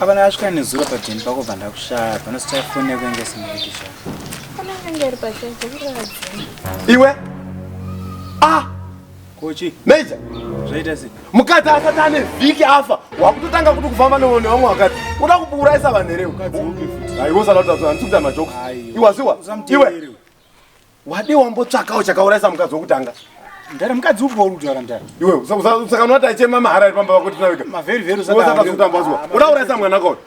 Abana asvika nezuro pabheni pako bva ndakushaya panosta fone yako inge sinoitisha. Kana inge iri pachai dzekuradzi. Iwe? Ah! Kochi. Major. Zvaita sei? Mukadzi asati ane vhiki afa wakutotanga kuti kufamba nevone vamwe wakati uda kuuraisa vanhu here? Mukadzi upi futi? Aiwo salauta zvanhu sikuta majokes. Iwaziwa. Iwe. wade wambotsvakawo chakaurayisa mukadzi wokutanga mdara mukadzi upi wauri kutaura mdara iwe saka unoti achema mahara ari pamba vako tinawika mavherivheri usataatazokutamba zuva uda kuurayisa mwana kauri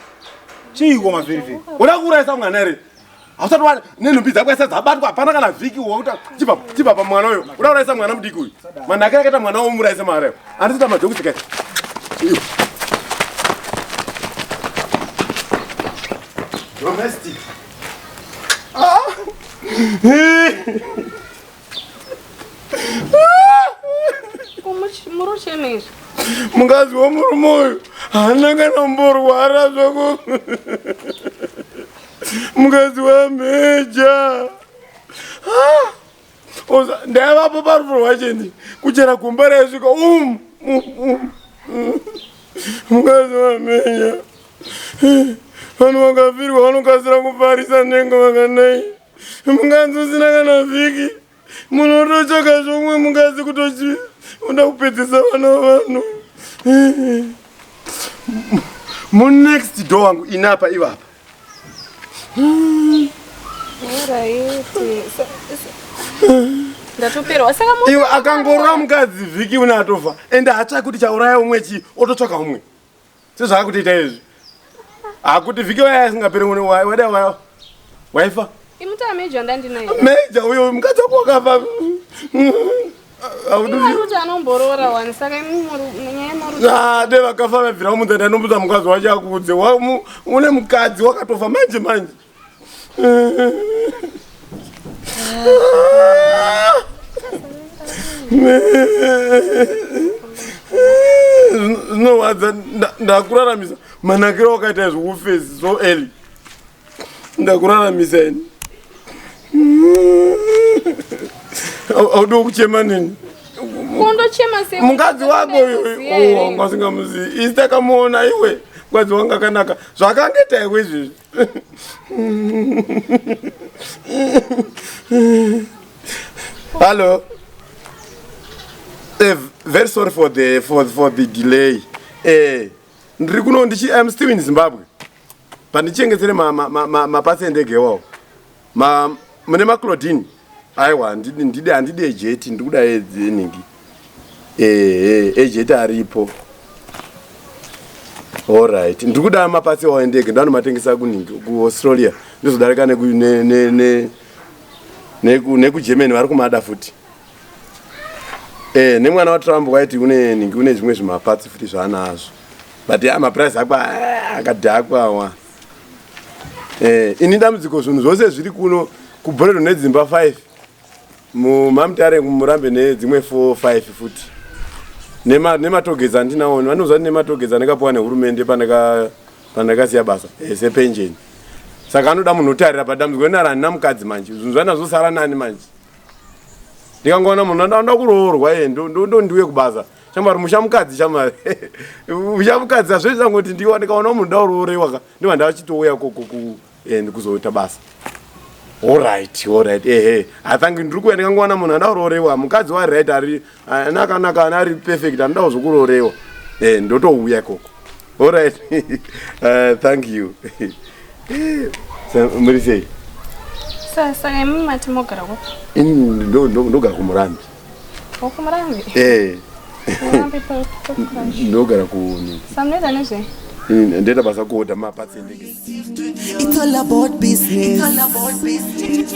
chiiko mavherivheri uda kuurayisa mwana here hausati wa nenhumbi dzako ese dzabatwa hapana kana vhiki wauta chipa pamwana uyo uda kuurayisa mwana mudiki uyu manhake akaita mwana womurayisa mahara yo andisita madzokutika iwe domestic mukadzi wemurume uyu haana kana mborwara zvako mukadzi wameja ndaivapo parufu rwacheni kuchera gumba raisvika um, um, um, um. mukadzi wamenya vanhu vakafirwa vanokasira kufarisa nhengo vakanai mukadzi usina kana vhiki munhu ototsvaka zvomwe mukadzi kutochi uda kupedzisa vana vanhu munext door wangu inapa ivapa ndatoperwa saka iwe akangorora mukadzi vhiki une atofa ende hatsvaki kuti chauraya umwe chii ototsvaka umwe sezvaakutiita izvi hakuti vhiki waya asingapere mune wada waifa imutaa meja ndandinaye meja uyo mukadzi wako wakafa de vakafa vabvira mudza ndanomudza mukadzi wacho akuudze une mukadzi wakatofa manje manje zvinowadza ndakuraramisa manakiro wakaita izvo ufesi so early ndakuraramisa ini audiwo kuchema nini mukadzi wako yoyo ngasingamuzivi isi takamuona iwe mukadzi wangu akanaka zvakangeta iwe izvezvi hallo eh, very sorry for the, for, for the delay eh, ndiri kuno ndichi im still in zimbabwe pandichengetere mapatsi endege iwawo mune maclodin aiwa handidi ejeti ndiri kuda enhingi ehe ejeti aripo allright ndiri kuda mapatsi iwawo endege ndovanomatengesa kunhingi kuaustralia ndizodarika nekugermany vari kumada futi e nemwana watrump waiti une nhingi une zvimwe zvimapatsi futi zvaanazvo but ya maprice ako eh, akadhakwa awa eh, ini dambudziko zvinhu zvose zviri kuno kubhoredo nedzimba 5 mumamtare murambe nedzimwe 4 5 futi nematogedza nema andinaoni vanoziva ti nematogedza andakapuwa nehurumende pandakasiya basa eh, sepenjeni saka anoda munhu otarira padambudziko rinara handina mukadzi manje zvinhu zvaina zvosara nani manje ndikangoona munhu andakuroorwa ye ndondiuye kubasa Shamwari musha mukadzi shamwari. Musha mukadzi azviri zangu kuti ndiwa ndikaona munhu ndauroorewa ka. Ndiwa ndachitouya koko ku and kuzoita basa. All right, all right. Eh eh. I think ndiri kuya ndikangoona munhu ndauroorewa. Mukadzi wa right ari anaka naka ari perfect anoda kuzokuroorewa. Eh ndotouya koko. All right. uh, thank you. Sir, muri sei? Sir, saka imimi mati mogara kupi? Ini ndogara kumurambi. Ukumurambi? Eh. Umurambi pa pa crush. Ndogara kuno. Samneza nezve. Mm, Ndenda basa kuoda mapatsi endege. It's all about business. It's all about business.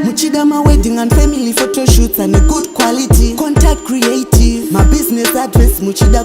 Muchidama wedding and family photo shoots and a good quality. Contact creative. My business address Muchida.